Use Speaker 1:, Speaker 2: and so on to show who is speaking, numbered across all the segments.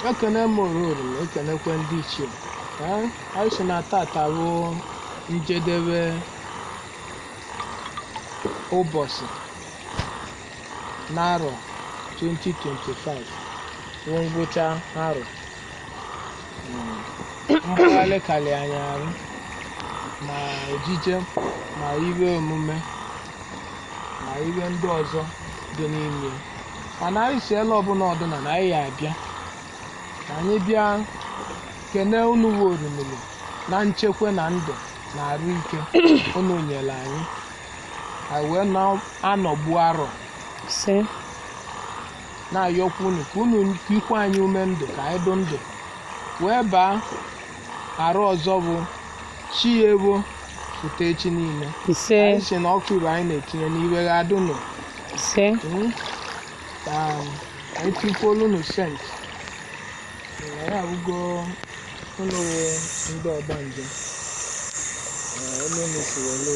Speaker 1: ekene m oruru ekenekwe ndị ichie ee anyị sị na tata bụ njedebe ụbọsị n'arọ 2025 bụ ngwụcha arọ mgbagharị karị anyị arụ ma ejije ma ihe emume ma ihe ndị ọzọ dị n'ime mana anyị sị ele ọbụna ọ dụna na anyị ya-abịa ka anyị bịa kene unu wụ Orimili na nchekwa na ndụ na arụ ike unu nyere anyị anyị wee na-anọgbu arọ si na-ayọkwa unu ka unu tikwe anyị ume ndụ ka anyị dụ ndụ wee baa arọ ọzọ bụ chi ya-ewo pụta echi niile ise anyị sị na ọkụ ibe anyị na-etinye n'iwe ga-adụ nụ ise Mm. Um, anyị tikwuolu unu sent anyị awụgo unu wụ ndị ọgbanje elu unu si welu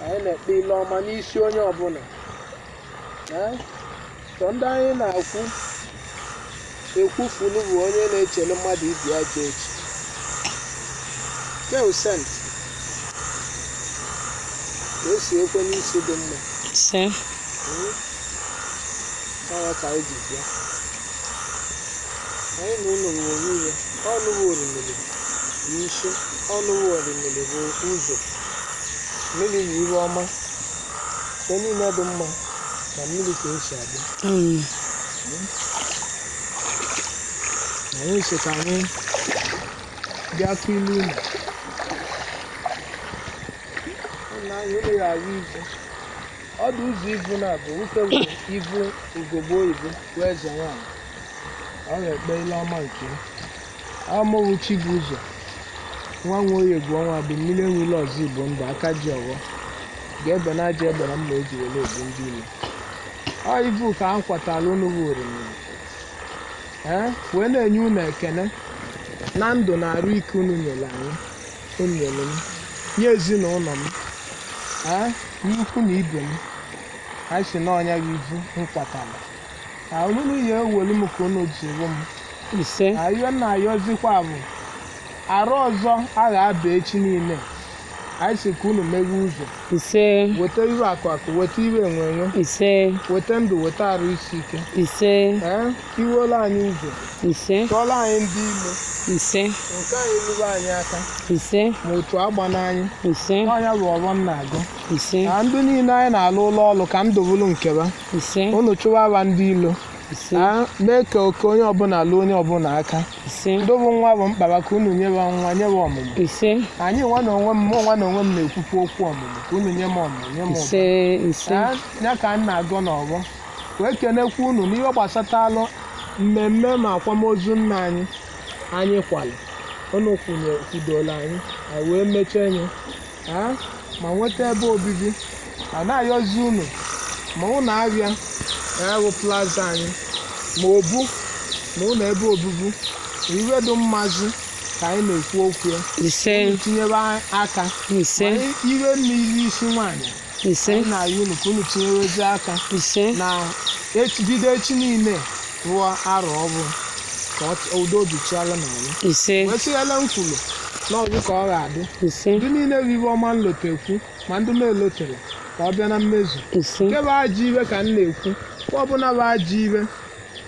Speaker 1: anyị na-ekpe ile ọma n'isi onye ọbụla Ee, sọ ndị anyị na-akwụ ekwufulu bụ onye na-echere mmadụ ibe ya ka echi ke sent ka o si ekwe n'isi dị mma ise ọ ya ka anyị ji bịa anyị na ụlọ nwere ihe unu bụ Orimiri bu isi unu bụ Orimiri bu ụzọ mmiri yi iwe ọma nke niile dị mma na mmiri ka o si abịa Mm. anyị sị ka anyị bịa kụ ilu unu nna anyị unu ya ahụ ivu ọ dị ụzọ ivu na-abụ nwoke bụ ivu ugogbe oyibo bụ eze nwaanyị ọ ga-ekpe ile ọma nke ya Amowu Chibuzo nwa Nwoye bụ ọnwa bụ mmiri enwe ilo ọzọ Igbo ndụ aka ji ọfọ ga-ebe na aja ebere mma o ji were egbu ndị ilo ọ ivu ka m kwatara unu bụ Orimiri ee wee na-enye unu ekene na ndụ na arụ ike unu nyere anyị unu nyere m nye ezinụlọ m ee ikwu na ibe m anyị sị n'ọnya gị ivu m kwatara ihe ewelu m ka unu jiri m ise ayịyọ m na-ayọzikwa bụ arọ ọzọ a ga-aba echi niile anyị sị ka unu meghe ụzọ ise weta ihe akụ akụ weta ihe enwe enwe ise weta ndụ weta arụ isi ike ise ee iwela anyị ụzọ ise chụọla anyị ndị ilo ise nke anyị luba anyị aka ise ma otu agbana anyị ise ọ ya bụ ọfọ m na-agọ ise na ndị niile anyị na-alụlụ ọlụ ka ndụ bụrụ nke ha ise unu chụwaba ndị ilo ise Ah, mee ka oke onye ọbụla luo onye ọbụla aka ise ndị bụ nwa bụ mkpa ha ka unu nyewe nwa nyewe ọmụmụ ise anyị nwa na onwe m mụ nwa na onwe m na-ekwukwu okwu ọmụmụ ka unu nye m ọmụmụ nye m ụba ise ise Ah, ya ka m na-agọ n'ọfọ wee kenekwa unu n'ihe gbasatalụ mmemme ma akwamozu nna anyị anyị kwalụ unu kwụnye kwudola anyị anyị wee mechanye ma nweta ebe obibi a na-ayọzi unu ma ụlọ ahịa ya bụ plaza anyị ma obu ma ụlọ ebe obibi ihe dị mmazi ka anyị na-ekwu okwu ya tinyewe aka iwe mmiri isi nwaanyị ise anyị na-ayọ unu ka unu tinyewezi aka ise na echi bido echi niile ruo arọ ọfụụ ka ọ ch- udo bichiala na anyị ise wee sịghela m kwuru n'ọfọ ka ọ ga-adị ise ndị niile ihe ọma m lotekwu ma ndị m na-elotero ka ọ bịa na mmezu ise nke bụ ajọ ihe ka m na-ekwu ọ bụla bụ ajọ ihe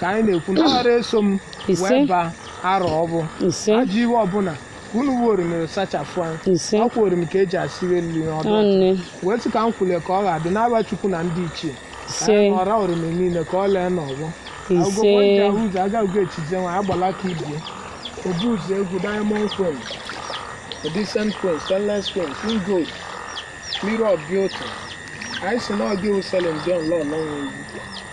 Speaker 1: ka anyị na-ekwu na ọ ghara eso m Ise. wee baa arọ ọfụụ ise ajọ ihe ọbụla unu orimiri sachapụ anyị ise ọ kwa orimiri ka eji asịrị elu ihe ọdụ ọnne wee sị ka m kwule ka ọ ga-adị n'aha chukwu na ndị ichie ise ọra orimiri niile ka ọ lee n'ọfọ ise ụzọ agaghị echi eze nwa agbala ka ibe ya obu ụzọ egwu diamond queen decent queen stainless queen king gold mirror of beauty anyị sị na ọgị uselin dị ọlọ ọlọ nwe egwu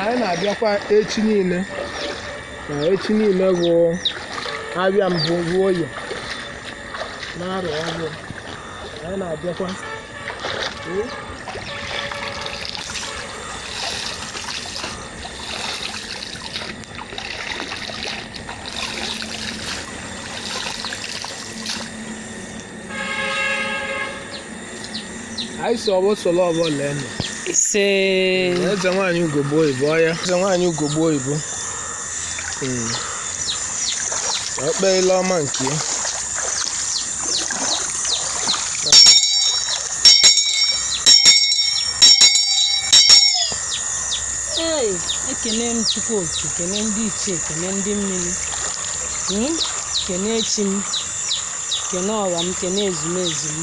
Speaker 1: anyị na-abịakwa echi niile na echi niile bụ ahịa mbụ bụ oye n'arọ ọfụụ anyị na-abịakwa anyị sị ọfọ solo ọfọ lee nụ
Speaker 2: ise eze
Speaker 1: nwaanyị ugogbe oyibo ọ ya eze nwaanyị ugogbe oyibo Mm. ka o kpee ile ọma nke
Speaker 2: ya. Ee, ekene m Chukwu oke kene ndị ichie kene ndị mmiri Mm, kene chi m kene ọra m kene ezumezu m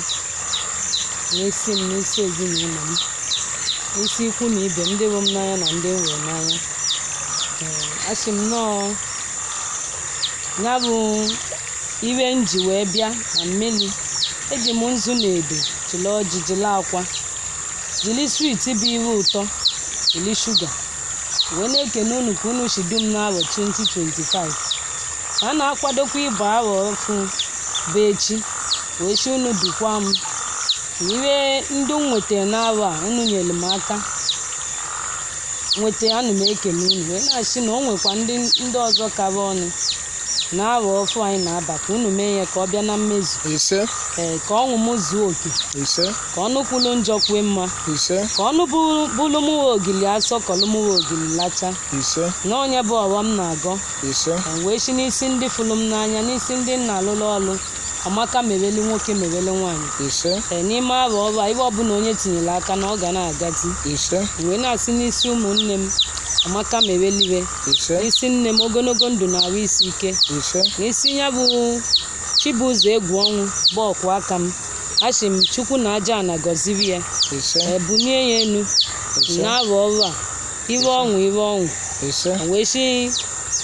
Speaker 2: n'isi m n'isi ezinụlọ m n'isi ikwu na ibe m ndị hụ m n'anya na ndị m hụrụ n'anya asị m na ọ ya bụ ihe m ji wee bịa na mmiri eji m nzu na edo jiri ọjị jiri akwa jiri swit bụ ihe ụtọ jiri shuga wee na-ekene unu ka unu si du m n'arọ 2025 ka a na-akwadokwa ịba arọ ọfụ bụ echi wee sị unu dukwa m na ihe ndị m nwetara n'arọ a unu nyere m aka nweta ana m ekene unu wee na-asị na o nwekwa ndị ọzọ kara ọnụ na arọ ọfụ anyị na-aba ka unu mee ya ka ọ bịa na mmezu ise ee
Speaker 1: ka ọṅụ m
Speaker 2: zuo oke ise ka ọnụ
Speaker 1: kwulu
Speaker 2: njọ kwue mma ise ka
Speaker 1: ọnụ
Speaker 2: bụlụ mụwa ogili asọ kọlụ mụwa ogili lacha ise na ọ
Speaker 1: nya bụ ọfọ
Speaker 2: m na-agọ ise wee
Speaker 1: sị n'isi
Speaker 2: ndị fụrụ m n'anya n'isi ndị m na-alụlụ ọlụ amaka merele nwoke merele nwaanyị ise ee
Speaker 1: n'ime arọ
Speaker 2: ọfụ a ihe ọbụla onye tinyere aka na ọ ga na-agazi ise
Speaker 1: wee na-asị n'isi
Speaker 2: ụmụnne m amaka mereliwe ise n'isi
Speaker 1: nne m ogologo
Speaker 2: ndụ na arụ isi ike ise n'isi
Speaker 1: ya bụ
Speaker 2: Chibụzọ Egwuọnwụ bụ ọkwa aka m asị m Chukwu na aja ana gọziri ya ise ee
Speaker 1: bunie ya
Speaker 2: enu ise n'arọ ọfụ a ihe ọṅụ ihe ọṅụ ise wee sị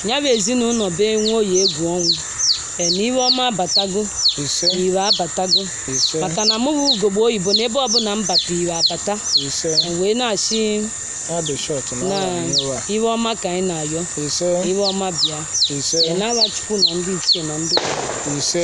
Speaker 2: ya bụ ezinụlọ be Nwoye Egwuọnwụ Ee, na ihe ọma abatago ise na
Speaker 1: ihe
Speaker 2: abatago ise maka
Speaker 1: na mụ bụ
Speaker 2: ugogbe oyibo na ebe ọbụla m bata ihe abata ise E wee
Speaker 1: na-asị
Speaker 2: ya dị
Speaker 1: shọt na na ọla
Speaker 2: nyewa ihe ọma ka anyị na-ayọ ise ihe
Speaker 1: ọma
Speaker 2: bịa ise Ee, n'aha
Speaker 1: Chukwu na
Speaker 2: ndị ichie na ndị obodo. ise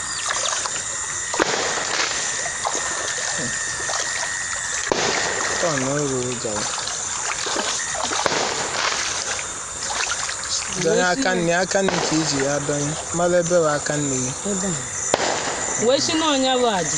Speaker 1: Tọnụ iru gara. Donye aka nni aka nni ka i ji adonye mara ebe bụ aka nni gị. Ebe a.
Speaker 2: Wee sị na ọ nya bụ aja.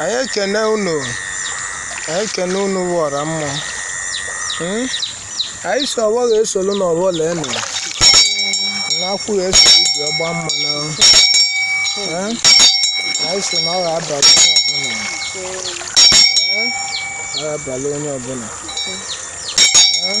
Speaker 1: anyị ekene unu anyị ekene unu bụ ọra mmụọ Hmm? anyị sị ọfọ ga-esolu n'ọfọ lee nụ n'akwụ ga-eso ibi ọgba mma na Hmm? anyị sị na ọ ga-abalị onye ọbụla Hmm? ọ ga-abalị onye ọbụla Hmm?